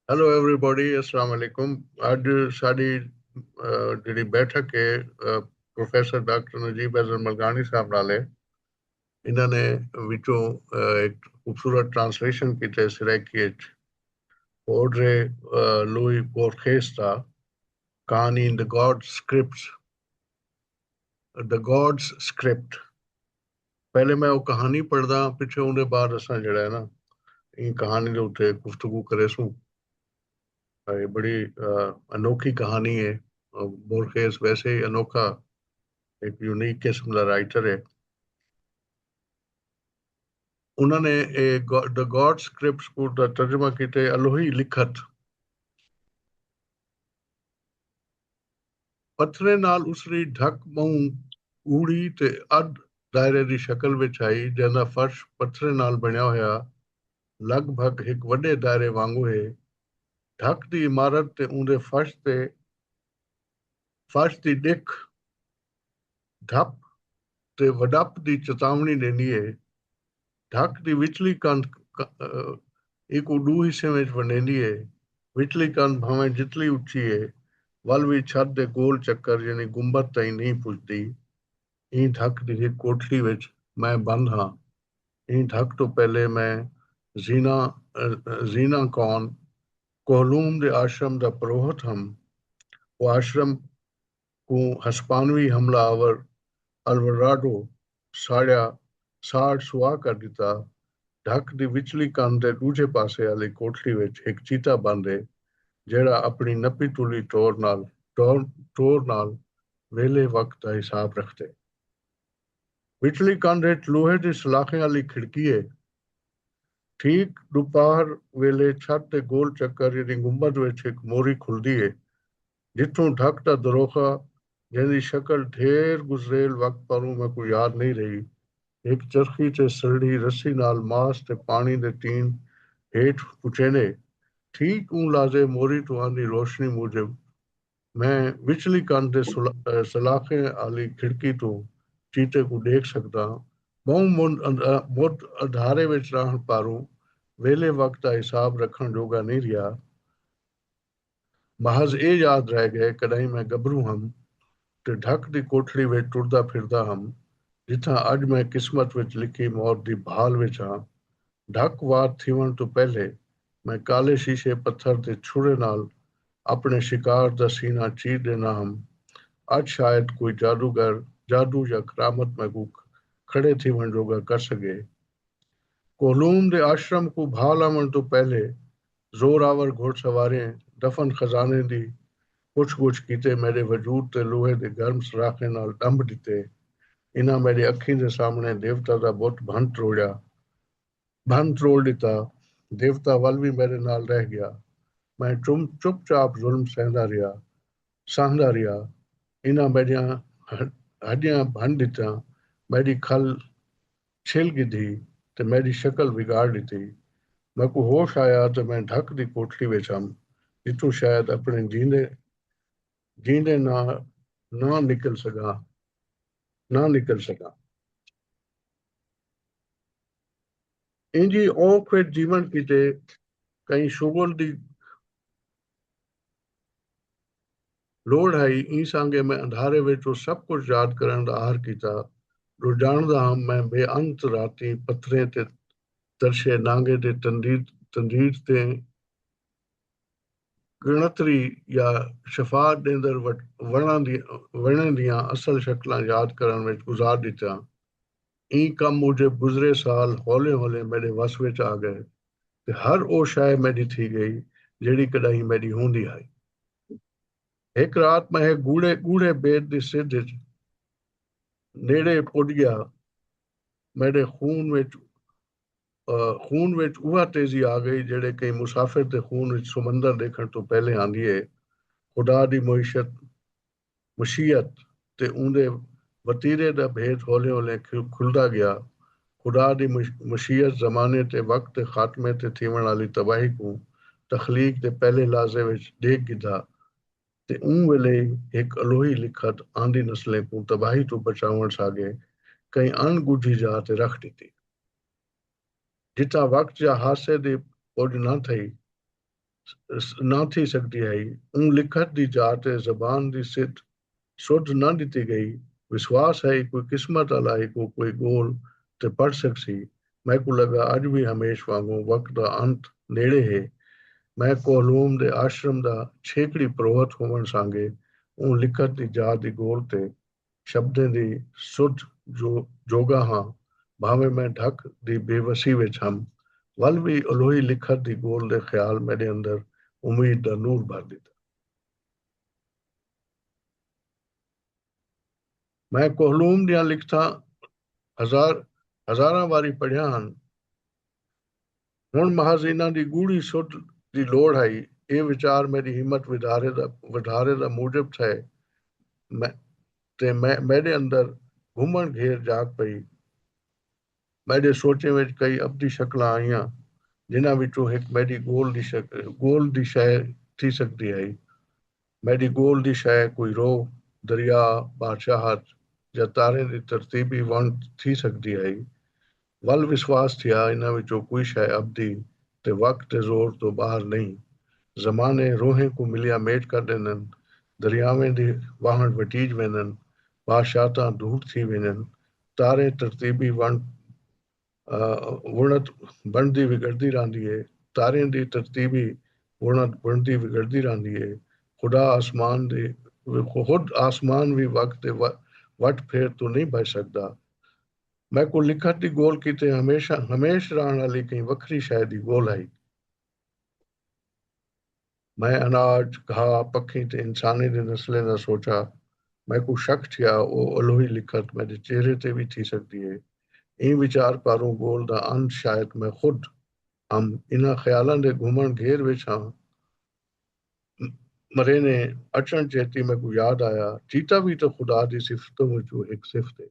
Hello everybody السلام علیکم اج ساری جڑی بیٹھک ہے پروفیسر ڈاکٹر نجیب احسن ملگانی صاحب نال ہے انہاں نے وچوں ایک خوبصورت ٹرانسلیشن کیتے سرائیکی اچ اوڈرے لوئی بورخیس دا کہانی in the God scripts the God script پہلے میں او کہانی پڑھدا ہاں پچھے اوندے بعد اساں جیڑھا ہے نا ایں کہانی دے اتے گفتگو کریسوں اے بڑی انوکھی کہانی ہے بورخیز ویسے ہی انوکھا ایک یونیک قسم دا رائٹر ہے انہاں نے اے دا گاڈ سکرپٹس کو دا ترجمہ کیتے الوہی لکھت پتھریں نال اسری ڈھک ٻہوں ڳوڑھی تے ادھ دائرے دی شکل وچ ہئی جیندا فرش پتھریں نال بݨیا ہویا لڳ بھڳ ہک وݙے دائرے وانگوں ہے۔ ڈھک دی عمارت تے اوندے فرش تے فرش دی ݙکھ۔ ڈھپ تے وڈپ دی چتاونڑی ڈیندی ہے۔ ڈھک دی وچلی کندھ ک ایکوں ڈو حصیاں وچ ونڈیندی ہے۔ وچلی کندھ بھانویں جتلی اچی ہے ول وی چھت دے گول چکر یعنی گنبد تئیں نئیں پجدی۔ ایں ڈھک دی ہک کوٹھڑی وچ میں بند ہاں۔ ایں ڈھک توں پہلے میں زینا Zina Khan کوہلوم دے آشرم دا پروہت ہم۔ او آشرم کوں ہسپانوی حملہ آور الوراڈو ساڑیا ساڑ سواہ کر ݙتا۔ ڈھک دی وچلی کندھ دے ݙوجھے پاسے آلی کوٹھڑی وچ ہک چیتا بند ہے جیڑھا اپݨی نپی تلی ٹور نال ٹور نال ویلھے وقت دا حساب رکھدے۔ وچلی کندھ وچ لوہے دی سلاخیں آلی کھڑکی ہے۔ ٹھیک ݙوپہر ویلھے چھت دے گول چکر یعنی گنبد وچ ہک موری کھلدی ہے ڈٹھوں ڈھک دا دروخہ جیندی شکل ڈھیر گزریل وقت پاروں میکوں یاد نئیں رہی۔ ہک چرخی تے سلڑھی رسی نال ماس تے پاݨی دے تین ہیٹھ پچیندے۔ ٹھیک اوں لازے موری توں آندی روشنی موجب میں وچلی کندھ دے سلاخیں آلی کھڑکی توں چیتے کوں ڈیکھ سگداں۔ بہوں مدھ اندھارے وچ راہݨ پاروں ویلھے وقت دا حساب رکھݨ جوگا نئیں رہیا۔ محض اے یاد رہ گئے کڈاہیں میں گبروں ہم تے ڈھک دی کوٹھڑی وچ ٹردا پھردا ہم جتھاں اج میں قسمت وچ لکھی موت دی بھال وچ ہاں ڈھک وار تھیوݨ توں پہلے میں کالے شیشے پتھر دے چھرے نال اپݨے شکار دا سینہ چیر ݙینا ہم اج شاید کوئی جادوگر جادو یا کرامت میکوں کھڑے تھیوݨ جوگا کر سگے کوہلوم دے آشرم کوں بھال آوݨ توں پہلے زور آور گھوڑ سواریں دفن خزانیں دی پچھ گچھ کیتے میڈے وجود تے لوہے دے گرم سراخیں نال ڈنبھ ڈتے۔ انہاں میڈے اکھیں دے سامنڑے دیوتا دا بت بھن تروڑیا۔ بھن تروڑ ڈتا۔ دیوتا ول وی میڈے نال رہ گیا۔ میں چم چپ چاپ ظلم سہندا رہیا۔ سہندا رہیا۔ انہاں میڈیاں ہڈیاں بھن ڈتیاں۔ میڈی کھل چھل گھدی تے میڈی شکل بگاڑ ڈتی۔ میکوں ہوش آیا تے میں ڈھک دی کوٹھڑی وچ ہم جتھوں شاید اپنڑے جیندے جیندے نہ نہ نکل سگاں نہ نکل سگاں۔ اینجھی اونکھ وچ جیون کیتے کہیں شغل دی لوڑھ ہئی ایں سانگے میں اندھارے وچ او سب کجھ یاد کرݨ دا عہر کیتا جو ڄاݨدا ہم میں بے انت راتیں پتھریں تے ترشے نانگے تے تندید تے ڳݨتری یا شفا ݙیندر وݨیں دیاں اصل شکلاں یاد کرݨ وچ گزار ݙتیاں ایں کم موجب گزرے سال ہولیں ہولیں میݙے وس وچ آ ڳئے۔ تے ہر او شئے میڈی تھی گئی جیڑھی کڈاہیں میڈی ہوندی ہائی۔ ہک رات میں ہک گوڑھے گوڑھے بیت دی سدھ اچ نیڑے پڈ گیا میڈے خون وچ خون وچ اوہا تیزی آ گئی جیڑھے کہیں مسافر دے خون وچ سمندر ڈیکھن توں پہلے آندی ہے خدا دی معیشت مشیت تے اوندے وتیرے دا بھید ہولیں ہولیں کھلدا گیا۔ خدا دی مشیت زمانے تے وقت دے خاتمے تے تھیوݨ آلی تباہی کوں تخلیق دے پہلے لحظے وچ ݙیکھ گھدا تے اوں ویلے ای ہک الوہی لکھت آندی نسلیں کوں تباہی توں بچاوݨ ساڳے کہیں اݨ ڳجھی جاہ تے رکھ ݙتی جتھاں وقت یا حادثے دی پڄ نہ تھئی۔ نہ تھی سگدی ہئی۔ اوں لکھت دی جا تے زبان دی سدھ سدھ نہ ڈتی گئی۔ وسواس ہئی کوئی قسمت آلا ہیکوں کوئی گول تے پڑھ سگسی۔ میکوں لگا اج وی ہمیش وانگوں وقت دا انت نیڑے ہے۔ میں کوہلوم دے آشرم دا چھیکڑی پروہت ہوون سانگے اوں لکھت دی جا دی گول تے شبدیں دی سدھ جو جوڳا ہاں بھانویں میں ڈھک دی بے وسی وچ ہم ول وی الوہی لکھت دی ڳول دے خیال میݙے اندر امید دا نور بھر ݙتا۔ میں کوہلوم دیاں لکھتاں ہزار ہزاراں واری پڑھیاں ہن ہݨ محض انہاں دی ڳوڑھی سدھ دی لوڑھ ہئی۔ ایہ وچار میݙی ہمت ودھارے دا موجب تھئے تے میݙے اندر گھمݨ گھیر جاڳ پئی۔ میݙے سوچیں وچ کئی ابدی شکلاں آئیاں، جنہاں وچوں ہک میݙی گول دی شئے تھی سڳدی ہئی۔ میݙی ڳول دی شئے کوئی رو، دریا، بادشاہت یا تاریں دی ترتیبی ونڈ تھی سڳدی ہئی، ول وسواس تھیا انہاں وچوں کوئی شئے ابدی تے وقت دے زور توں ٻاہر نئیں۔ زمانے روحیں کوں ملیا میٹ کر ݙیندن، دریاویں دی واہݨ وٹیج ویندن، بادشاہتاں دھوڑ تھی ویندن، تاریں ترتیبی ونڈ وݨت بݨدی وڳڑدی رہندی ہے تاریں دی ترتیب ای وݨت بݨدی وڳڑدی رہندی ہے خدا آسمان دی خود آسمان وی وڳ تے وٹ پھیر توں نئیں بھڄ سڳدا میکوں لکھت دی ڳول کیتے ہمیشہ ہمیش رہݨ آلی کہیں وکھری شئے دی ڳول ہئی۔ میں اناج، گھا، پکھیں تے انسانیں دے نسلیں دا سوچا۔ میکوں شک تھیا او الوہی لکھت میڈے چہرے تے وی تھی سگدی ہے۔ ایں وچار پاروں گول دا انت شاید میں خود ہم۔ انہاں خیالاں دے گھمنڑ گھیر وچ ہاں۔ مرینے اچنڑ چیتی میکوں یاد آیا چیتا وی تاں خدا دی صفتاں وچوں ہک صفت ہے۔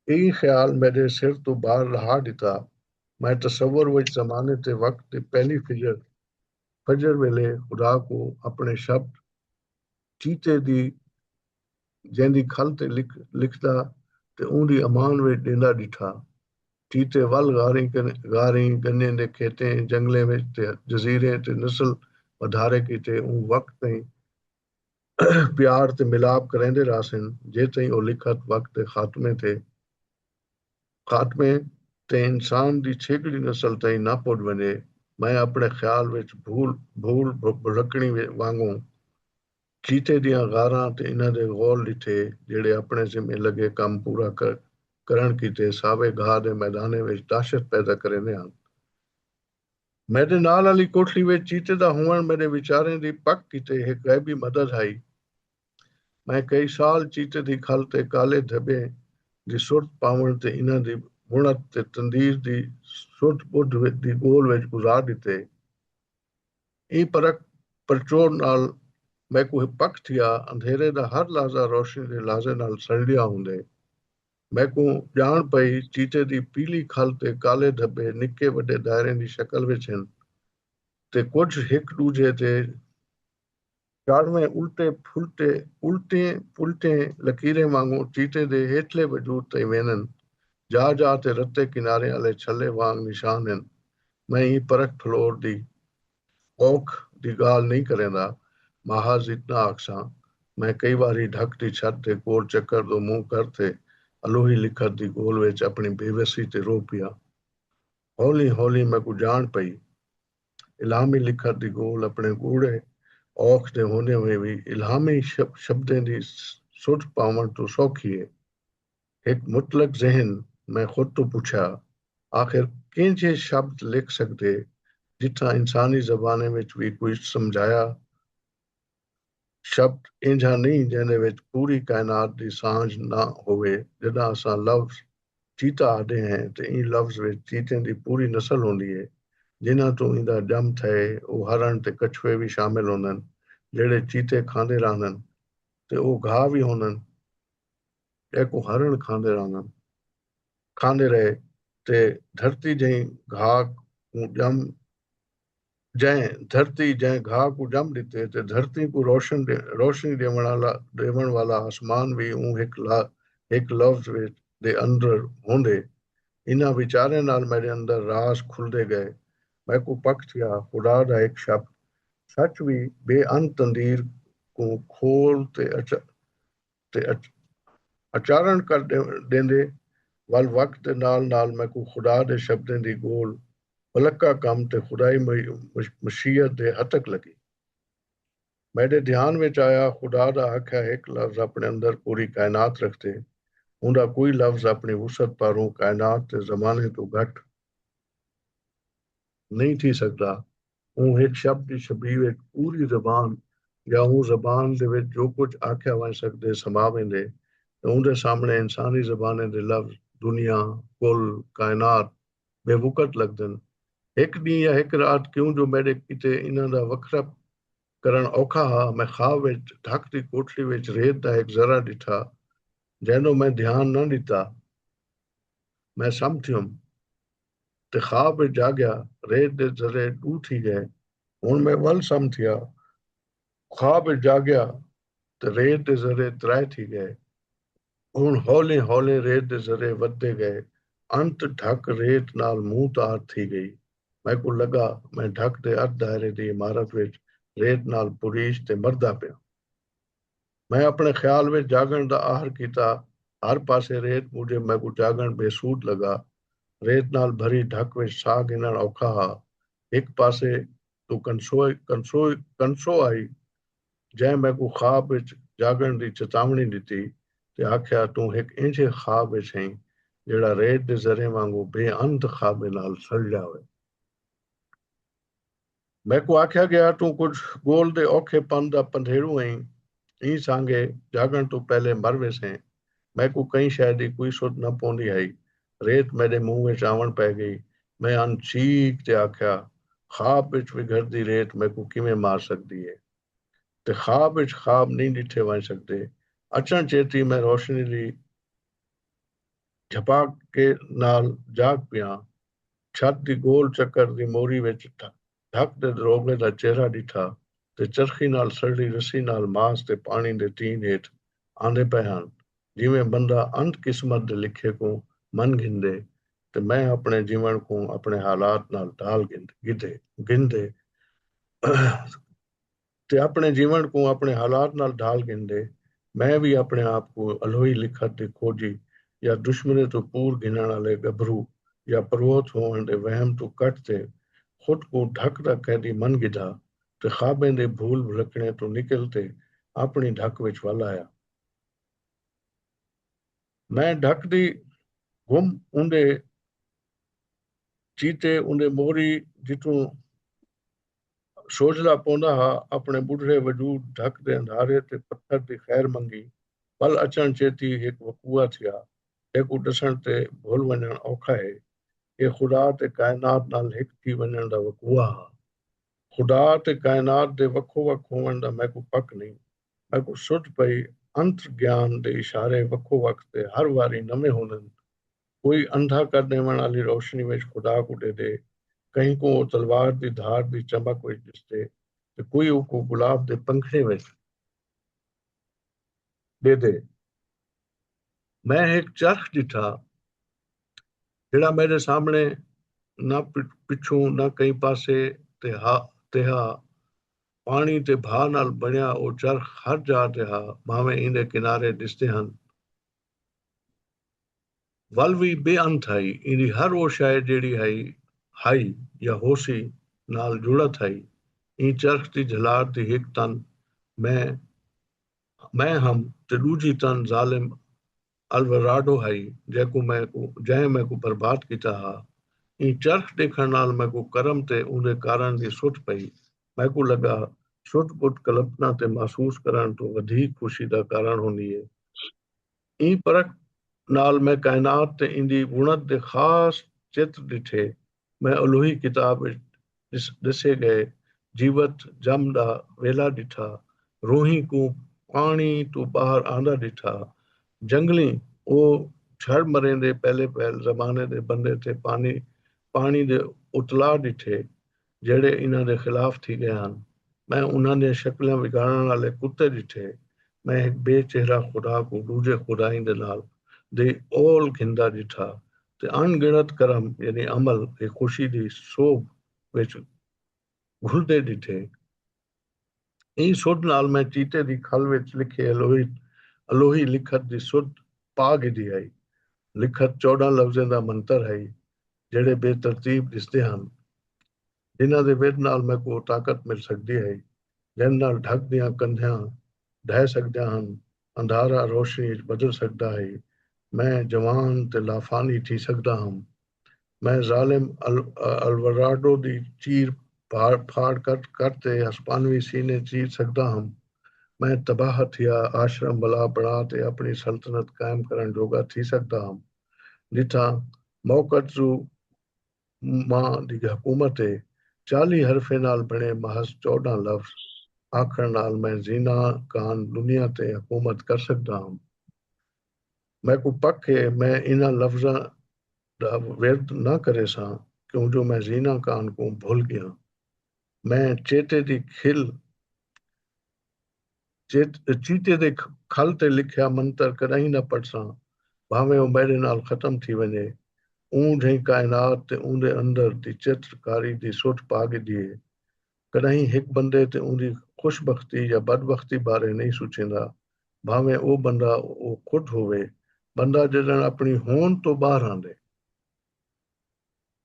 ایں خیال میڈے سر توں بار لہا ڈتا۔ میں تصور وچ زمانے تے وقت دی پہلی فجر، فجر ویلے خدا کوں اپنے شبد چیتے دی جیندی کھل تے لکھ لکھدا تے اوندی امان وچ ڈیندا ڈٹھا۔ چیتے ول غاریں غاریں، گنے دے کھیتیں، جنگلیں وچ تے جزیریں تے نسل ودھارے کیتے اوں وقت تئیں پیار تے ملاپ کریندے رہسن جیتئیں او لکھت وقت دے خاتمے تے خاتمے تے انسان دی چھیکڑی نسل تئیں نہ پڄ ونڄے میں اپݨے خیال وچ بھول بھول بھلکݨی وانگوں چیتے دیاں غاراں تے انہاں دے غول ݙٹھے جیڑھے اپݨے ذمے لڳے کم پورا کرݨ کیتے ساوے گھاہ دے میدانیں وچ دہشت پیدا کریندے ہن۔ میڈے نال آلی کوٹھڑی وچ چیتے دا ہووݨ میڈے ویچاریں دی پک کیتے ہک غیبی مدد ہئی۔ میں کئی سال چیتے دی کھل تے کالے دھبیں دی سرت پاوݨ تے انہاں دی بݨت تے تندیر دی سرت ٻدھ دی ڳول وچ گزار ݙتے۔ ایں پرکھ پرچوڑ نال میکوں پک تھیا اندھیرے دا ہر لحظہ روشنی دے لحظے نال سݨلیا ہوندے۔ میکوں ڄاݨ پئی چیتے دی پیلی کھل تے کالے دھٻے نکے وݙے دائریں دی شکل وچ ہن تے کجھ ہک ݙوجھے دے چاڑھویں الٹے پھلٹے الٹیں پلٹیں لکیریں وانگوں چیتے دے ہیٹھلے وجود تئیں ویندن۔ جا جا تے رتے کناریں آلے چھلے وانگ نشان ہن۔ میں ایں پرکھ پھلور دی اوکھ دی گالھ نئیں کریندا، محض اتنا آکھساں، میں کئی واری ڈھک دی چھت دے کول چکر دو منہ کر تے الوہی لکھت دی گول وچ اپنی بے وسی تے رو پیا۔ ہولیں ہولیں میکوں جاݨ پئی۔ الہامی لکھت دی گول اپنے گوڑھے اوکھ دے ہوندیں ہوئیں وی الہامی شبدیں دی سدھ پاوݨ توں سوکھی اے۔ ہک مطلق ذہن میں خود توں پچھیا آخر کینجھے شبد لکھ سگدے جتھاں انسانی زبانیں وچ وی کوئی سمجھایا شبد اینجھا نئیں جیندے وچ پوری کائنات دی سانجھ نہ ہووے جڈاں اساں لفظ چیتا آہدے ہیں تے ایں لفظ وچ چیتیں دی پوری نسل ہوندی ہے جنہاں توں ایندا ڄم تھئے او ہرݨ تے کچھوے وی شامل ہوندن جیڑھے چیتے کھاندے راہندن تے او گھاہ وی ہوندن۔ ݙیکوں ہرݨ کھاندے رہندن۔ کھاندے رہے تے دھرتی جئیں گھا کوں ڄم جئیں دھرتی جئیں گھا کوں ڄم ݙتے تے دھرتی کوں روشن روشنی ݙیوݨ آلا ݙیوݨ والا اسمان وی اوں ہک لا ہک لفظ وچ دے اندر ہوندے۔ انھاں وچاریاں نال میݙے اندر راز کھلدے ڳئے۔ میکوں پک تھیا خدا دا ہک شبد سچ وی بے انت تندیر کوں کھول تے اچ تے اچارݨ کر ݙیندے ول وقت دے نال نال میکوں خدا دے شبدیں دی ڳول ولکا کم تے خدائی مشیت دے ہتک لڳی۔ میݙے دھیان وچ آیا خدا دا آکھیا ہک لفظ اپݨے اندر پوری کائنات رکھدے اوندا کوئی لفظ اپݨی وسعت پاروں کائنات دے زمانے توں گھٹ نئیں تھی سڳدا۔ اوں ہک شب دی شبیہ وچ پوری زبان یا اوں زبان دے وچ جو کجھ آکھیا ونڄ سڳدے سما ویندے تے اوندے سامݨے انسانی زبانیں دے لفظ دنیا، کل، کائنات بے وقعت لڳدن۔ ہک ݙینہہ یا ہک رات کیوں جو میݙے کیتے انہاں دا وکھرا کرݨ اوکھا ہا، میں خواب وچ ڈھک دی کوٹھڑی وچ ریت دا ہک ذرہ ݙٹھا جینوں میں دھیان نہ ݙتا۔ میں سم تھیوم۔ تے خواب وچ جاگیا ریت دے ذرے ݙو تھی ڳئے ہݨ میں ول سم تھیا خواب وچ جاگیا تے ریت دے ذرے ترائے تھی ڳئے ہݨ ہولیں ہولیں ریت دے ذرے ودھدے ڳئے انت ڈھک ریت نال مونہہ تار تھی ڳئی میکوں لڳا میں ڈھک دے ارد دائرے دی عمارت وچ ریت نال پریش تے مردا پیاں۔ میں اپݨے خیال وچ جاڳݨ دا آہر کیتا۔ ہر پاسے ریت موجب میکوں جاڳݨ بے سود لڳا۔ ریت نال بھری ڈھک وچ ساہ گھنݨ اوکھا ہا۔ ہک پاسے توں کنسو آئی جئیں میکوں خواب وچ جاڳݨ دی چتاوݨی ݙتی تے آکھیا توں ہک اینجھے خواب وچ ہئیں جیڑھا ریت دے ذریں وانگوں بے انت خوابیں نال سڑ ڄاوے۔ میکوں آکھیا ڳیا توں کجھ ڳول دے اوکھے پن دا پندھیڑو ہئیں، ایں سانگے جاڳݨ توں پہلے مر ویسیں، میکوں کہیں شئے دی کوئی سدھ نہ پوندی ہئی، ریت میݙے منہ وچ آوݨ پئے ڳئی، میں ان چیخ تے آکھیا خواب وچ وگھڑدی ریت میکوں کیویں مار سڳدی ہے تے خواب وچ خواب نئیں ݙٹھے ونڄ سڳدے، اچݨ چیتی میں روشنی دی جھپاک نال جاڳ پیاں، چھت دی گول چکر دی موری وچ ڈھک دے دروغے دا چہرہ ڈٹھا تے چرخی نال سڑڑی رسی نال ماس تے پاݨی دے تین ہیٹھ آندے پئے ہن جیویں بندہ انت قسمت دے لکھے کوں من گھندے تے میں اپݨے جیوݨ کوں اپݨے حالات نال ڈھال گھندے گھندے تے اپݨے جیوݨ کوں اپݨے حالات نال ڈھال گھندے، میں وی اپݨے آپ کوں الہوئی لکھت دی کھوڄی یا دشمنے توں پور گھنݨ آلے ڳبھرو یا پروہت ہووݨ دے وہم توں کٹ تے خود کوں ڈھک دا قیدی من گھدا تے خوابیں دے بھول بھلکݨیں توں نکل تے اپݨی ڈھک وچ ول آیا۔ میں ڈھک دی گم اوندے چیتے اوندے موری جتوں سوجھدا پوندا ہا اپݨے ٻڈھڑے وجود ڈھک دے اندھارے تے پتھر دی خیر منگی پل اچݨ چیتی ہک وقوعہ تھیا جیکوں ݙسݨ تے بھل ونڄݨ اوکھا ہے ایہ خدا تے کائنات نال ہک تھی ونڄݨ دا وقوعہ ہا خدا تے کائنات دے وکھو وکھ ہووݨ دا میکوں پک نئیں میکوں سدھ پئی انتر گیان دے اشارے وکھو وکھ تے ہر واری نویں ہوندن کوئی اندھا کر ݙیوݨ آلی روشنی وچ خدا کوں ݙیہدے، کہیں کوں او تلوار دی دھار دی چمک وچ ݙسدے تے کوئی اوکوں گلاب دے پنکھڑیں وچ ݙیہدے۔ میں ہک چرخ ݙٹھا جیڑھا میݙے سامݨے نہ پچھوں نہ کہیں پاسے تے ہا تے ہا۔ پاݨی تے بھا نال بݨیا او چرخ ہر جاہ تے ہا بھانویں ایندے کنارے ݙسدے ہن۔ ول وی بے انت ہئی، ایندی ہر او شئے جیڑھی ہئی، ہئی یا ہوسی نال جڑت ہئی۔ ایں چرخ دی جھلار دی ہک تن میں میں ہم تے ڈوجھی تن ظالم الوراڈو ہئی جیکوں میں کوں جئیں میں کوں برباد کیتا ہا۔ ایں چرخ ڈیکھن نال میں کوں کرم تے اوندے کارن دی سٹ پئی۔ میں کوں لگا سٹ بٹ کلپنا تے محسوس کرن توں ودھیک خوشی دا کارن ہوندی اے۔ ایں پرکھ نال میں کائنات تے ایندی بݨت دے خاص چتر ݙٹھے۔ میں الوہی کتاب وچ ݙسے ڳئے جیوت جم دا ویلھا ݙٹھا، روہیں کوں پاݨی توں ٻاہر آندا ݙٹھا، جنگلیں او جھڑ مریندے پہلے پہل زمانے دے بندے تے پاݨی دے اتلاء ݙٹھے، جیہڑے انہاں دے خلاف تھی ڳئے ہن۔ میں انہاں دیاں شکلاں وگاڑݨ آلے کتے ݙٹھے۔ میں ہک بے چہرہ خدا کوں ݙوجھے خدائیں دے نال دی اول گھندا ݙٹھا تے اݨ ڳݨت کرم یعنی عمل ہی خوشی دی سوبھ وچ گھلدے ݙٹھے۔ ایں سدھ نال میں چیتے دی کھل وچ لکھے الوہی لکھت دی سدھ پا گھدی ہئی۔ لکھت چوڈھاں لفظیں دا منتر ہئی جیڑھے بے ترتیب ڈسدے ہن۔ جنہاں دے ودھ نال میکوں او طاقت مل سگدی ہئی جیندے نال ڈھک دیاں کندھیاں ڈھہہ سگدیاں ہن۔ اندھارا روشنی اچ بدل سڳدا ہئی، میں جوان تے لافانی تھی سڳدا ہم۔ میں ظالم الوراڈو دی چیر پھاڑ کر تے ہسپانوی سینے چیر سڳدا ہم۔ میں تباہ تھیا آشرم ولا بݨا تے اپݨی سلطنت قائم کرݨ جوڳا تھی سڳدا ہم۔ ݙٹھا، موقت زو۔ ماء دی حکومت ہے چالیہہ حرفیں نال بݨے محض چوݙاں لفظ آکھݨ نال میں زینا کان دنیا تے حکومت کر سڳدا ہم میکوں پک ہے میں انہاں لفظاں دا ورد نہ کریساں کیوں جو میں زینا کان کوں بھل ڳیاں میں چیتے دی کھل چیتے دے کھل تے لکھیا منتر کݙاہیں نہ پڑھساں، بھانویں او میݙے نال ختم تھی ونڄے۔ اوں جھئیں کائنات تے اوندے اندر دی چتر کاری دی سٹ پا ڳھدی ہے۔ کݙاہیں ہک بندے تے اوندی خوش بختی یا بد بختی بارے نئیں سوچیندا، بھانویں او بندہ او خود ہووے۔ بندہ ڄݙݨ اپݨی ہون توں ٻاہر آندے۔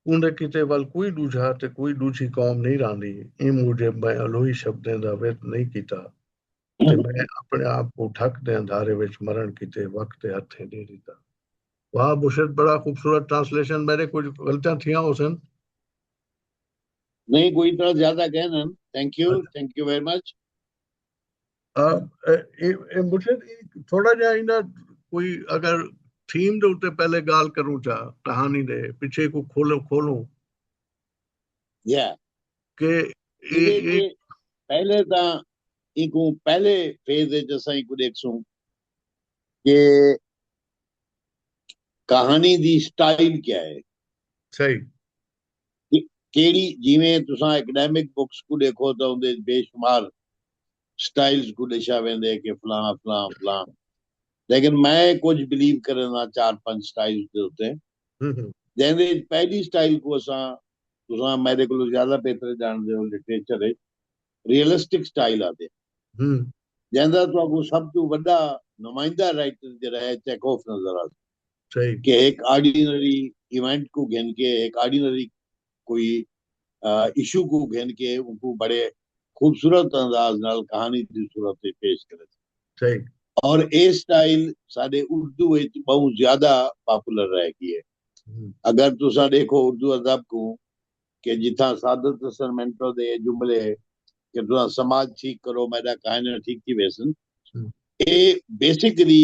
اوندے کیتے ول کوئی ڈوجھا تے کوئی ڈوجھی قوم نئیں راہندی، ایں موجب میں الوہی شبدیں دا ورد نئیں کیتا تے میں اپنے آپ کوں ڈھک دے اندھارے وچ مرݨ کیتے وقت دے ہتھیں ڈے ڈتا۔ واہ بشرت بڑا خوبصورت ٹرانسلیشن میڈے کجھ غلطیاں تھیاں ہوسن۔ نہیں کوئی اتنا زیادہ کہنن thank you thank you very much. مرشد تھوڑا جا اینا کوئی اگر تھیم دے اتے پہلے گال کروں چا کہانی دے پچھے کو کھولوں کھولوں یا کہ پہلے تا ایکو پہلے فیز دے جسا ایکو دیکھ سوں کہ کہانی دی سٹائل کیا ہے صحیح کیڑی جیویں تساں ایکڈیمک بکس کوں ڈیکھو تاں اوندے اچ بے شمار سٹائلز کوں ڈسیا ویندے کہ فلاں فلاں فلاں لیکن میں کجھ بلیو کرینداں چار پنج سٹائلز دے اتے جیندے اچ پہلی سٹائل کوں اساں تساں میڈے کولوں زیادہ بہتر جاندے ہو لٹریچر اچ ریئلسٹک سٹائل آندے جیندا تہاکوں سب توں وڈا نمائندہ رائٹر جیڑا ہے چیکوف نظر آندے۔ کہ ہک آرڈینری ایونٹ کوں گھن کے ہک آرڈینری کوئی ایشو کوں گھن کے اوکوں بڑے خوبصورت انداز نال کہانی دی صورت وچ پیش کرے تھے اور اے سٹائل ساڈے اردو وچ بہوں زیادہ پاپولر رہ گی ہے اگر تساں ڈیکھو اردو ادب کوں کہ جتھاں سعادت حسن منٹو دے جملے کہ تساں سماج ٹھیک کرو میڈا کائنہ ٹھیک تھی ویسن اے بیسیکلی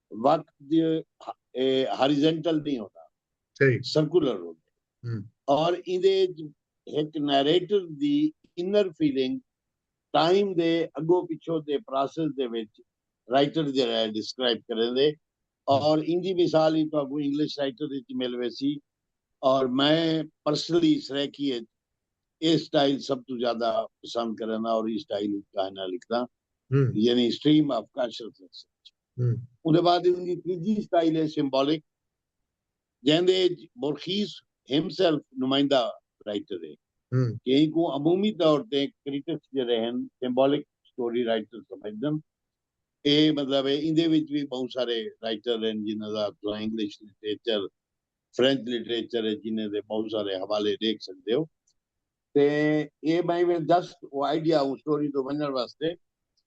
وقت دی ہاریزنٹل نہیں ہوندا سرکولر ہوندا اور ایندے وچ ہک نیریٹر دی انر فیلنگ ٹائم دے اگو پچھو دے پراسس دے وچ رائٹر جیڑا ہے ڈسکرائب کریندے اور ایندی مثال ہی تہاکوں انگلش رائٹر وچ مل ویسی اور میں پرسنلی سرائیکی وچ اے سٹائل سب توں زیادہ پسند کریندا اور اے سٹائل وچ کہانیاں لکھداں یعنی سٹریم آف کانشسنس اوندے بعد اوندی تریجی سٹائل ہے سمبولک جیندے اچ بورخیس ہم سیلف نمائندہ رائٹر ہے کہ اینکوں عمومی طور تے کریٹکس جیڑے ہن سمبولک سٹوری رائٹر سمجھدن اے مطلب ہے ایندے وچ وی بہوں سارے رائٹر ہن جنہاں دا تساں انگلش لٹریچر فرینچ لٹریچر ہے جنہاں دے بہوں سارے حوالے ڈیکھ سکدے ہو تے اے میں جسٹ او آئیڈیا او سٹوری تو ونجن واسطے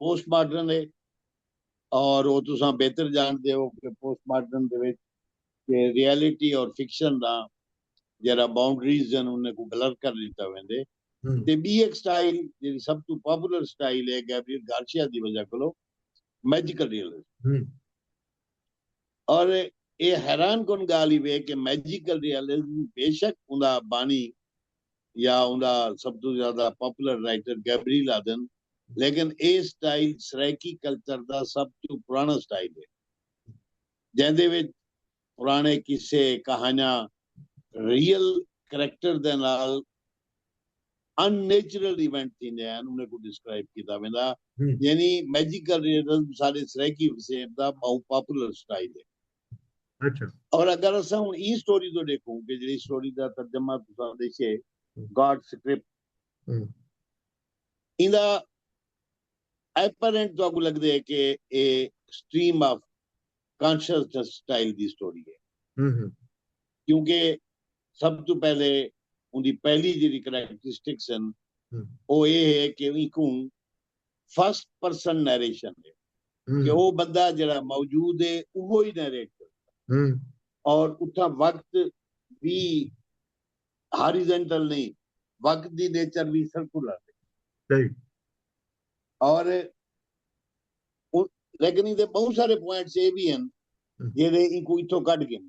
پوسٹ ماڈرن ہے اور وہ تساں بہتر جانتے ہو کہ پوسٹ ماڈرن دے وچ کہ ریالٹی اور فکشن دا جڑا باؤنڈریز جن انہیں کو بلر کر دیتا ویندے تے بی ایک سٹائل جڑی سب تو پاپولر سٹائل ہے گیبریل گارشیا دی وجہ کلو میجیکل ریئلسٹ اور اے حیران کن گالھ ای وے کہ میجیکل ریالزم بے شک اوندا بانی یا اوندا سب توں زیادہ پاپولر رائٹر گیبریل آدھن لیکن اے سٹائل سرائیکی کلچر دا سب توں پراݨا سٹائل ہے جیندے وچ پراݨے قصے کہانیاں ریئل کریکٹر دے نال ان نیچرل ایونٹ تھیندے ہن انہیں کوں ڈسکرائب کیتا ویندا یعنی میجیکل ریئلزم سارے سرائیکی وسیب دا بہوں پاپولر اسٹائل ہے اور اگر اساں ہن ایں سٹوری توں ڈیکھوں کہ جیڑی سٹوری دا ترجمہ تساں ڈیشے گاڈ سکرپٹ ایندا ایپرنٹ تہاکوں لگدے ہے کہ اے سٹریم آف کانشسنس سٹائل دی سٹوری ہے کیونکہ سب توں پہلے اوندی پہلی جیڑی کریکٹرسٹکس ہن او اے ہے کہ اینکوں فرسٹ پرسن نیریشن ہے کہ او بندہ جیڑا موجود ہے اوہی نیریٹ کردا اور اتھاں وقت وی ہاریزنٹل نہیں وقت دی نیچر وی سرکولر ہے اور لیکن ایندے بہت سارے پوائنٹس اے وی ہن جیڑے اینکوں اتھوں کڈھ گھن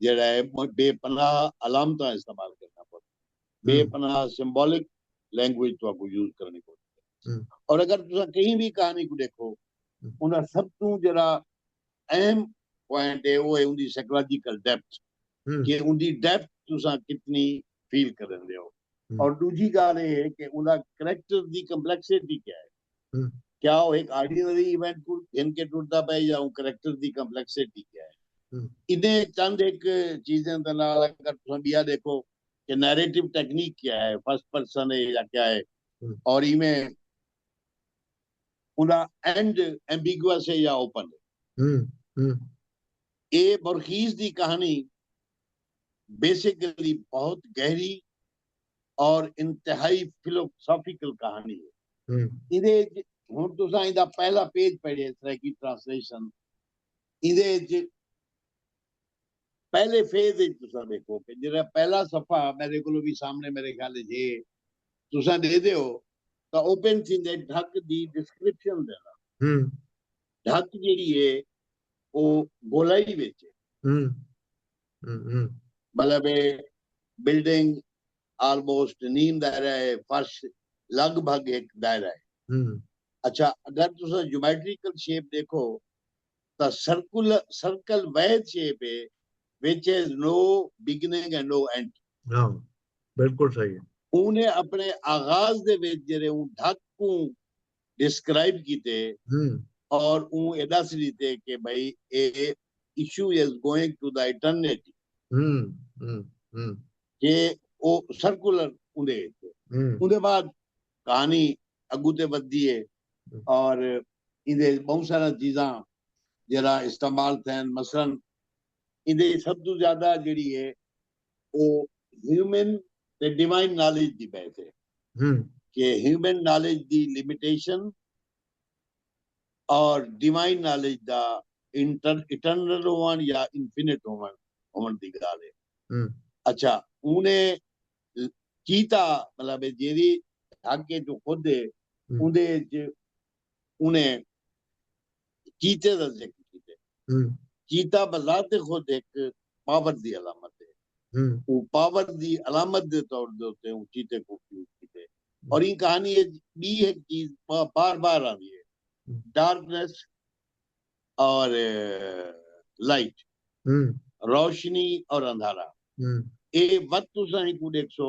جیڑھا ہے بے پناہ علامتاں استعمال کرݨا پوندی ہے، بے پناہ سمبولک لینگویج تہاکوں یوز کرݨی پوندی ہے۔ اور اگر تساں کہیں وی کہانی کوں ݙیکھو اوندا سب توں جیڑھا اہم پوائنٹ ہے او ہے اوندی سائیکولوجیکل ڈیپتھ کہ اوندی ڈیپتھ تساں کتنی فیل کریندے ہو۔ اور ݙوجھی ڳالھ اے ہے کہ اوندا کریکٹر دی کمپلیکسٹی کیا ہے۔ کیا او ہک آرڈینری ایونٹ کوں گھن کے ٹردا پئے یا اوں کریکٹر دی کمپلیکسٹی کیا ہے۔ ایندے چند ہک چیزیں دے نال اگر تساں ٻیا ݙیکھو کہ نیریٹو ٹیکنیک کیا ہے، فرسٹ پرسن ہے یا کیا ہے اور ایویں اوندا اینڈ ایمبیگوئس ہے یا اوپن ہے۔ اے بورخیز دی کہاݨی بیسیکلی بہت گہری اور انتہائی فلوسافیکل کہانی ہے۔ ایندے وچ ہن تساں ایندا پہلا پیج پڑھیے، سرائیکی ٹرانسلیشن۔ ایندے وچ پہلے فیز وچ تساں ݙیکھو کہ جیڑھا پہلا صفحہ میݙے کولوں وی سامݨے میݙے خیال وچ ہے تساں ݙیہدے ہو تاں اوپن تھیندے ڈھک دی ڈسکرپشن دے نال۔ ڈھک جیڑھی ہے او گولائی وچ ہے۔ مطلب اے بلڈنگ آلموسٹ نیم دائرہ اے فرش لگ بھگ ہک دائرہ اے اچھا اگر تساں جومیٹریکل شیپ ڈیکھو تاں سرکل سرکل وحد شیپ اے وچ has no beginning and no end ہاں بالکل صحیح اوں نے اپنے آغاز دے وچ جیرے اوں ڈھک کوں ڈسکرائب کیتے اور اوں اے ڈس ڈتے کہ بھئی اے issue is going to the eternity کہ او سرکولر اوندے اچ اے اوندے بعد کہانی اگوں تے ودھدی اے اور ایندے اچ بہوں ساراں چیزاں جیرھا استعمال تھین مثلا ایندے اچ سب توں زیادہ جیڑھی اے او ہیومن تے ڈیوائن نالج دی بحث ہے کہ ہیومن نالج دی لیمیٹیشن اور ڈیوائن نالج دا اٹرنل ہون یا انفینٹ ہون ہون دی گال ہے اچھا اونے کیتا مطلب جیری حق ہے جو خود ہے اوندے انہیں چیتے دا ذکر کیتے چیتا بذات خود ایک پاور دی علامت ہے او پاور دی علامت دے طور دے اتے او چیتے کو فیوز کیتے اور این کہانی ہے بی ایک چیز بار بار آ رہی ہے ڈارکنس اور لائٹ روشنی اور اندھارا اے وقت تساں ہی کو دیکھ سو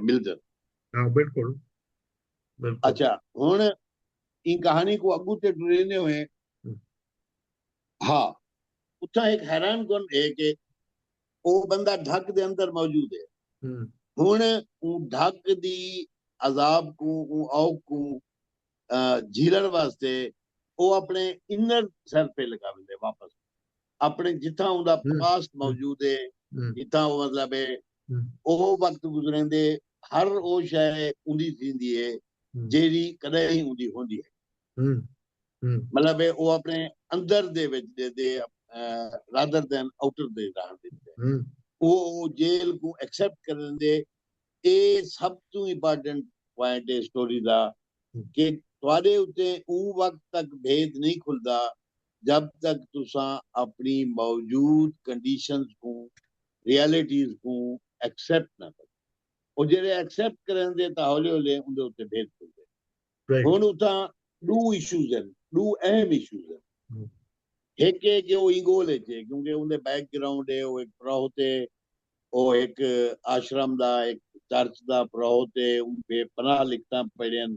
ملدن ہاں بالکل اچھا ہن این کہانی کو اگو تے ٹریندے ہوئے ہاں اتھا ایک حیران کن ہے کہ او بندہ ڈھک دے اندر موجود ہے ہن اون ڈھک دی عذاب کو اون اوک کو جھیلن واسطے او اپنے انر سر پہ لگا ویندے واپس اپݨے جتھاں اوندا پاسٹ موجود ہے جتھاں او مطلب ہے او وقت گزریندے ہر او شے اوندی تھیندی ہے جیڑھی کݙاہیں اوندی ہوندی ہے مطلب ہے او اپݨے اندر دے وچ ݙیندے رادر دین آوٹر دے ݙاہݨ دے ݙیندے او جیل کوں ایکسیپٹ کریندے اے سب توں امپارٹنٹ پوائنٹ ہے سٹوری دا کہ تہاݙے اتے اوں وقت تک بھید نہیں کھلدا جب تک تساں اپݨی موجود کنڈیشنز کوں، ریالٹیز کوں، ایکسیپٹ نہ کرو۔ او جیڑھے ایکسیپٹ کریندے تاں ہولے ہولے اوندے اتے بھیت کھلدے۔ ہݨ اتھاں ݙو ایشوز ہن، ݙو اہم ایشوز ہن۔ ہک اے کہ او اینگول اچ اے کیونکہ اوندے بیک گراؤنڈ اے، او ہک پروہت اے، او ہک آشرم دا، ہک چرچ دا پروہت اے، اوں بے پناہ لکھتاں پڑھیئن،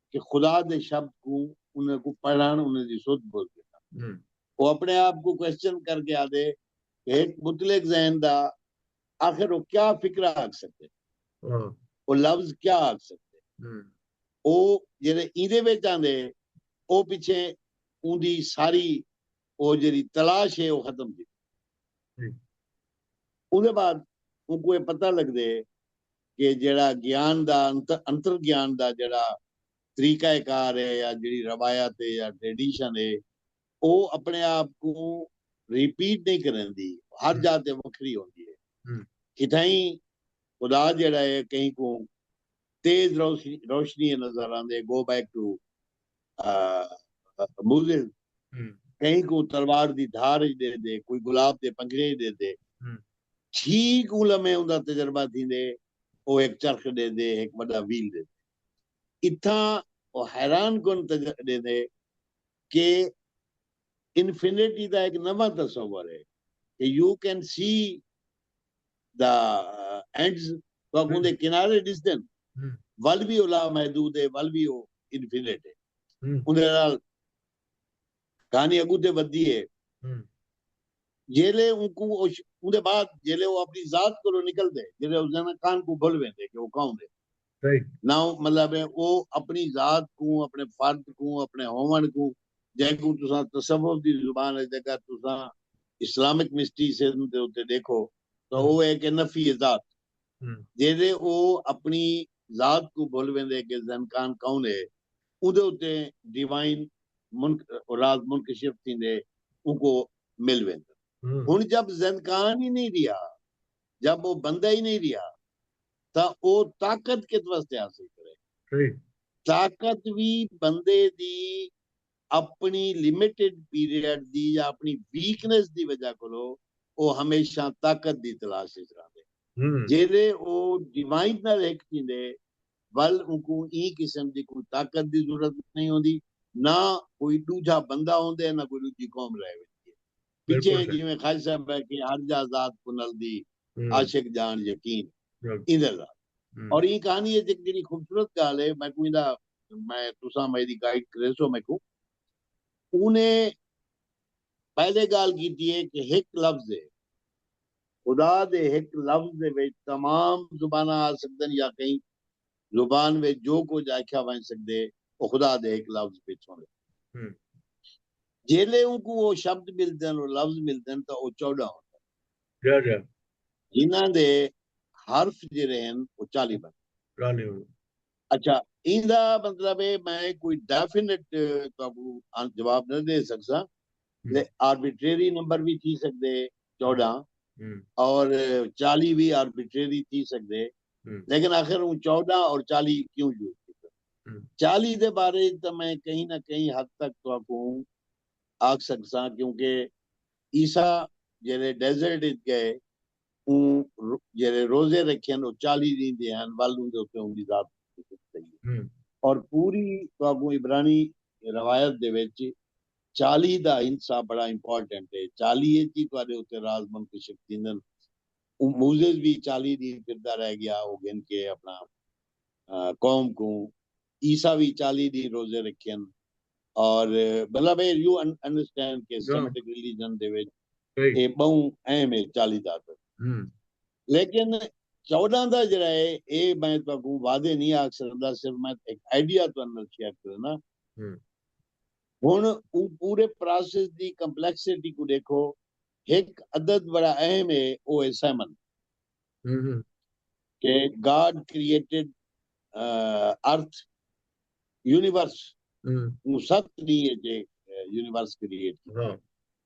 کہ خدا دے شبد کوں انہاں کوں پڑھن انہاں دی سدھ بدھ گھدن او اپنے آپ کوں کوسچن کر کے آدھے کہ ہک مطلق ذہن دا آخر او کیا فکرہ آکھ سکدے او لفظ کیا آکھ سکدے او جیڑے ایندے وچ آندے او پچھے اوندی ساری او جیڑی تلاش ہے او ختم تھی اودے بعد اونکوں اے پتہ لگدے کہ جیڑھا گیان دا انتر گیان دا جیڑھا طریقہ کار ہے یا جیڑھی روایت ہے یا ٹریڈیشن ہے او اپنے آپ کوں ریپیٹ نہیں کریندی ہر جاہ تے وکھری ہوندی ہے کتھائیں خدا جیڑھا ہے کہیں کوں تیز روشنی نظر آندے گو بیک ٹو موزن کہیں کوں تلوار دی دھار اچ ڈے دے کوئی گلاب دے پنجرے اچ ڈے دے چھی کوں لمے اوندا تجربہ تھیندے او ہک چرخ ڈے دے ہک وڈا ویل ڈے دے اتھاں او حیران کن تجربہ ڈے دے کہ انفینٹی دا ہک نواں تصور ہے کہ U can see the ends تہاکوں اوندے کنارے ݙسدن ول وی او لا محدود ہے ول وی او انفینٹ ہے اوندے نال کہانی اگوں تے ودھدی ہے جیلے اونکوں اوندے بعد جیلے او اپݨی ذات کولو نکلدے جیلے او زینہ کان کوں بھل ویندے کہ او کون ہے ناؤں مطلب ہے او اپݨی ذات کوں، اپݨے فرد کوں، اپݨے ہووݨ کوں جینکوں تساں تصوف دی زبان اچ اگر تساں اسلامک مسٹیسزم دے اتے ݙیکھو تاں او ہے کہ نفی ذات جیڑھے او اپݨی ذات کوں بھل ویندے کہ زنکان کون ہے اوندے اتے ڈیوائن راز منکشف تھیندے اونکوں مل ویندن ہݨ جب زنکان ہی نئیں ریہا جب او بندہ ہی نئیں رہیا تاں او طاقت کت واسطے حاصل کرے۔ صحیح۔ طاقت وی بندے دی اپݨی لمیٹڈ پیریڈ دی یا اپݨی ویکنس دی وجہ کولو او ہمیشہ طاقت دی تلاش اچ رہندے۔ جیلے او ڈیوائن نال ہک تھیندے ول اونکوں ایں قسم دی کوئی طاقت دی ضرورت نئیں ہوندی، نہ کوئی ڈوجھا بندہ ہوندے نہ کوئی ڈوجھی قوم رہ ویندی ہے۔ پچھے جیویں خج صاحب ہے کہ ہر جا ذات کوں نلدی عاشق جان یقین ایندے ذات اور ایں کہانی ہے جیک جیڑی خوبصورت گال ہے میں کو ایندا میں تساں میں دی گائیڈ کرے سو میں کو اونے پہلے گال کیتی ہے کہ ہک لفظ ہے خدا دے ہک لفظ دے وچ تمام زباناں آ سکدن یا کہیں زبان وچ جو کجھ آکھیا ونڄ سڳدے او خدا دے ہک لفظ پچھوں وے۔ جیلھے اونکوں او شبد ملدن او لفظ ملدن تاں او چوݙاں ہوندن۔ جنہاں دے حرف جیرھے ہن او چالیہہ بندے۔ اچھا ایندا مطلب اے میں کوئی ڈیفینٹ تہاکوں جواب نہ ݙے سڳساں تے آربیٹریری نمبر وی تھی سڳدے چوݙاں اور چالیہہ وی آربیٹریری تھی سڳدے لیکن آخر اوں چوݙاں اور چالیہہ کیوں یوز کیتے چالیہہ دے بارے اچ تاں میں کہیں نہ کہیں حد تک تہاکوں آکھ سڳساں کیونکہ عیسی جیڑھے ڈیزرٹ اچ ڳئے اوں جیڑھے روزے رکھئن او چالیہہ ݙینہہ دے ہن ول اوندے اتے اوندی ذات اور پوری تہاکوں عبرانی روایت دے وچ چالی دا حصہ بڑا امپارٹنٹ ہے۔ چالی اچ ہی تہاڈے اتے راز منکشف تھیندن۔ موزیز وی چالی ڈینھ پھردا رہ گیا او گھن کے اپنا قوم کوں۔ عیسی وی چالی ڈینھ روزے رکھین۔ اور مطلب اے یو انڈرسٹینڈ کے سیمٹک ریلیجن دے وچ اے بہوں اہم ہے چالی دا عدد۔ لیکن چوڈاں دا جیڑھا ہے اے میں تہاکوں وعدے نہیں آکھ سگدا صرف میں ہک آئیڈیا تہاڈے نال شیئر کرنا ہن او پورے پراسس دی کمپلیکسٹی کوں ڈیکھو ہک عدد بڑا اہم ہے او ہے سیمن کہ گاڈ کریٹڈ ارتھ یونیورس اوں ست ڈینہہ اچ یونیورس کریٹ کیتا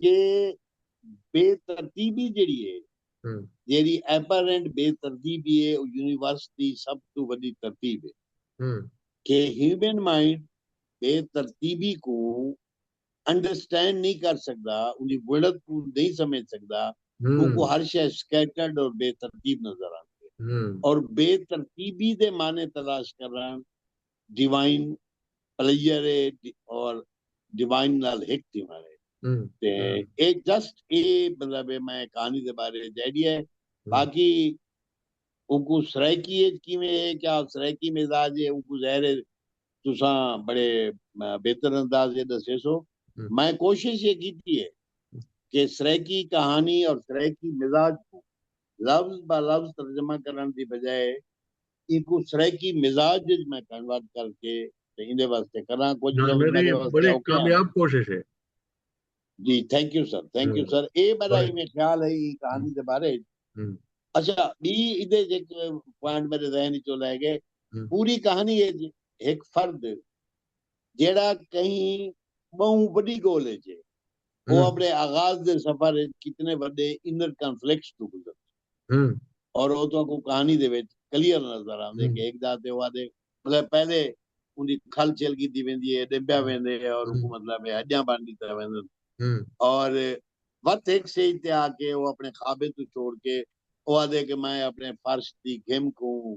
کہ بے ترتیبی جیڑھی ہے جیڑھی ایپرنٹ بے ترتیبی ہے او یونیورس دی سب توں وڈی ترتیب ہے کہ ہیومن مائنڈ بے ترتیبی کوں انڈرسٹینڈ نہیں کر سکدا اوندی وڑت کوں نہیں سمجھ سکدا اوکوں ہر شے سکیٹرڈ اور بے ترتیب نظر آندی ہے اور بے ترتیبی دے معنی تلاش کرن ڈیوائن پلیئر ہے اور ڈیوائن نال ہک تھیوݨ ہے تے اے جسٹ اے مطلب میں کہانی دے بارے وچ آئیڈیا ہے باقی اوکو سرائیکی اچ کیویں ہے کیا سرائیکی مزاج ہے اوکو ظاہر ہے تساں بڑے بہتر انداز وچ ڈسیسو میں کوشش یہ کیتی ہے کہ سرائیکی کہانی اور سرائیکی مزاج کو لفظ با لفظ ترجمہ کرݨ دی بجائے اینکوں سرائیکی مزاج اچ میں کنورٹ کر کے تے ایندے واسطے کراں کجھ لفظ میڈے واسطے اوکھے ہن۔ بڑی کامیاب کوشش ہے۔ جی thank you sir thank you sir اے میڈا ایویں خیال ہے ایں کہانی دے بارے اچ اچھا ٻی ایندے اچ ہک پوائنٹ میڈے ذہن اچوں لہہ گئے پوری کہانی اچ ہک فرد جیڑھا کہیں ٻہوں وݙی ڳول اچ ہے او اپݨے آغاز دے سفر اچ کتنے وݙے انر کنفلکٹس توں گزر دے اور او تہاکوں کہانی دے وچ کلیئر نظر آندے کہ ہک دا تے او آدھے مطلب پہلے اوندی کھل چھل کیتی ویندی ہے ݙبیا ویندے اور اوکوں مطلب ہݙیاں بݨ ݙتا ویندن اور وت ہک سٹیج تے آ کے او اپݨے خوابیں توں چھوڑ کے او آدھے کہ میں اپݨے فرش دی گھم کوں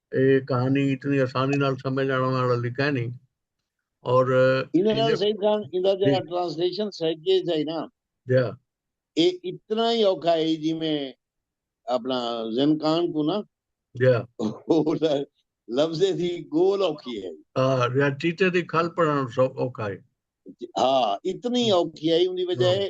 اے کہانی اتنی آسانی نال سمجھ آنڑ آلا لی کائنی اور ایندے نال سعید خان ایندا جیڑا ٹرانسلیشن سائیڈ کے سائی نا جا اے اتنا ہی اوکھا ہے جی میں اپنا زن کان کو نا جا لفظ دی گول اوکھی ہے ہاں یا چیتے دی کھل پڑھن سو اوکھا ہے ہاں اتنی اوکھی ہے ان دی وجہ ہے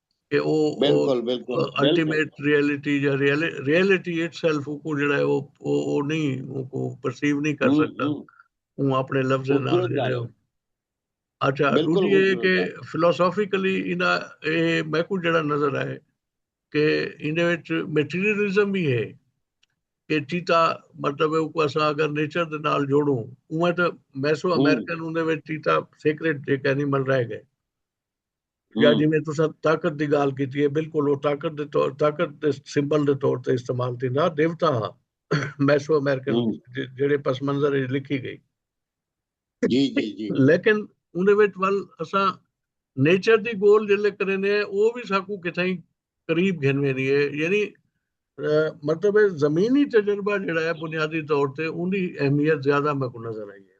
کہ او الٹیمیٹ ریئلٹی یا ریئلٹی اٹ سیلف کو جڑا ہے او نہیں او کو پرسیو نہیں کر سکتا اون اپنے لفظ نال جڑا ہے اچھا دوجی یہ کہ فلسافیکلی انہاں اے میں کو جڑا نظر آئے کہ انہاں وچ میٹیریلزم بھی ہے کہ چیتا مطلب ہے کو اسا اگر نیچر دے نال جوڑوں اون تے میسو امریکن اون دے وچ چیتا سیکریٹ جے کہنی مل رہے گئے یا جویں تساں طاقت دی گالھ کیتی ہے بالکل او طاقت دے طور طاقت دے سمبل دے طور تے استعمال تھیندا دیوتا ہا میسو امریکن جڑے پس منظر وچ لکھی گئی جی جی جی لیکن اوندے وچ ول اساں نیچر دی گول جلے کرینے ہیں او بھی ساکو کتھائیں قریب گھن ویندی ہے یعنی مطلب ہے زمینی تجربہ جڑا ہے بنیادی طور تے اوندی اہمیت زیادہ میں کو نظر آئی ہے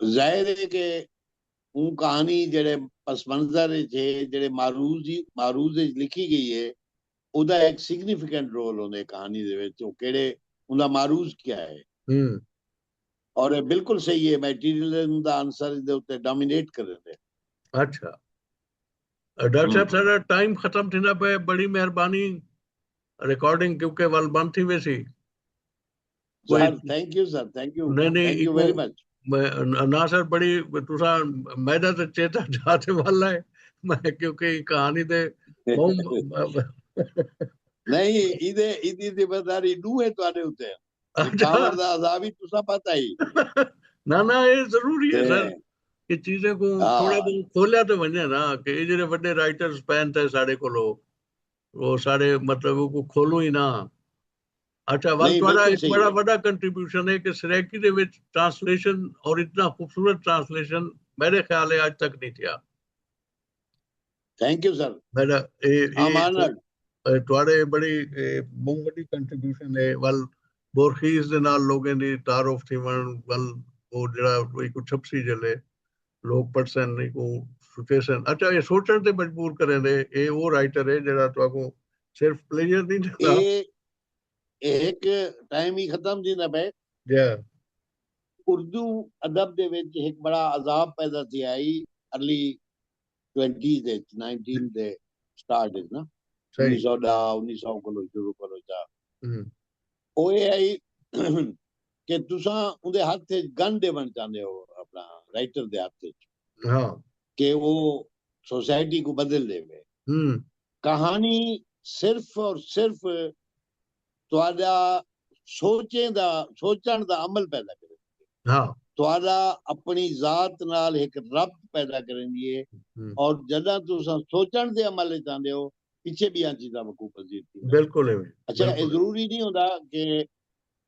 ظاہر ہے کہ اوں کہانی جیڑھے پس منظر اچ ہے جیڑھے معروض معروض اچ لکھی گئی ہے اودا ہک سگنیفیکینٹ رول ہوندے کہانی دے وچ او کیڑھے اوندا معروض کیا ہے اور اے بالکل صحیح ہے میٹیریلزم دا عنصر دے اتے ڈومینیٹ کریندے۔ اچھا ڈاکٹر صاحب ساڈا ٹائم ختم تھیندا پئے بڑی مہربانی ریکارڈنگ کیونکہ ول بند تھی ویسی۔ ناصر بڑی تسا میدا تے چیتا جاتے والا ہے میں کیونکہ کہانی دے نہیں ایدے ایدی ذمہ داری دو ہے تواڈے اوتے اچھا۔ پاور دا عذاب ہی تسا پتہ ہی نا نا اے ضروری ہے سر کہ چیزیں کو ہاں۔ تھوڑا بہت کھولیا تے ونجے نا کہ اے جڑے بڑے رائٹرز پین تے ساڈے کولو وہ ساڈے مطلب کو کھولو ہی نا اچھا ول تہاڈا ایک بڑا وڈا کنٹریبیوشن ہے کہ سرائیکی دے وچ ٹرانسلیشن اور اتنا خوبصورت ٹرانسلیشن میرے خیال ہے اج تک نہیں تھیا تھینک یو سر میرا اے تہاڈے بڑی بہت وڈی کنٹریبیوشن ہے ول بورخیز دے نال لوگوں دی تعارف تھی ون ول او جڑا کوئی کو چھپسی جلے لوک پڑھسن اینکوں سوچیسن اچھا اے سوچن تے مجبور کریندے اے او رائٹر اے جیڑھا تہاکوں صرف پلیجر نی ڈیندا۔ اے اے ہک ٹائم ای ختم تھیندا پئے۔ جے۔ اردو ادب دے وچ ہک بڑا عذاب پیدا تھیا ہئی ارلی ٹوئنٹیز اچ نائنٹین دے سٹارٹ اچ نا انیس سو ڈاہ انیس سو کولوں شروع کرو چا او اے ہئی کہ تساں اوندے ہتھ اچ گن ڈیونڑ چاہندے ہو اپنا رائٹر دے ہتھ اچ کہ او سوسائٹی کوں بدل ڈیوے۔ کہانی صرف اور صرف تہاڈا سوچیں دا سوچنڑ دا عمل پیدا کریندی ہے۔ تہاڈا اپنی ذات نال ہک ربط پیدا کریندی ہے اور جڈاں تساں سوچنڑ دے عمل اچ آندے ہو پچھے بیاں چیزاں وقوع پذیر تھیندین۔ اچھا اے ضروری نی ہوندا کہ